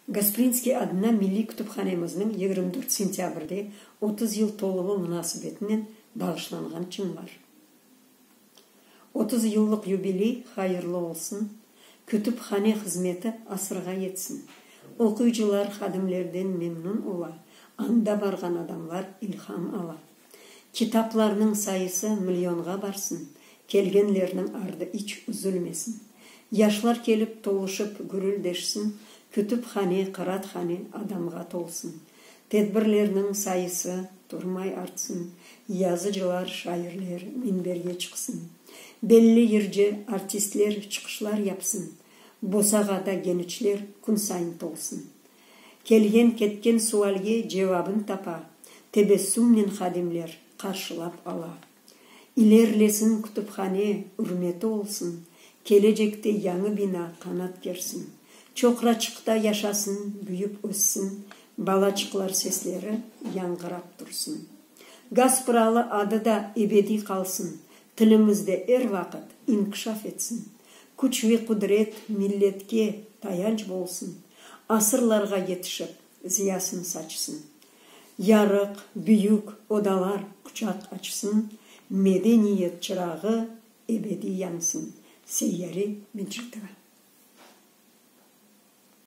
Gasprinskiy adına milliy kütüphanemizniñ yigirmi dört sentâbrde otuz yıl toluvı munasebetinen bağışlanğan çınlar. Otuz yıllıq yubiley hayırlı olsun, kütüphane hızmeti asırğa yetsin. Oquyıcılar hadimlerden memnun ola, anda barğan adamlar ilham ala. Kitaplarnıñ sayısı millionğa barsın, kelgenlerniñ ardı iç üzülmesin. Yaşlar kelip, toluşıp, gürüldeşsin, kütüphane, qıraathane adamğa tolsun. Tedbirlerniñ sayısı turmay artsın, yazıcılar, şairler minberge çıqsın. Belli yırcı, artistler çıqışlar yapsın. Bosağada geniçler künsayın tolsun. Kelgen-ketken sualge cevabın tapa, tebessümnen hadimler qarşılap ala. İlerlesin kütüphane, ürmeti olsun, kelecekte yañı bina qanat gersin, Çoqraçıqta yaşasın, büyüp-össin, balaçıqlar sesleri yañğırap tursın. Gazpralı adı da ebediy qalsın, Tilimiz de er vaqıt inkişaf etsin, küç ve qudret milletke tayanç bolsun, asırlarğa yetişip, ziyasını saçsın. Yarıq, büyük odalar quçaq açsın, medeniyet çırağı ebediy yansın. Seyyari Mecitova.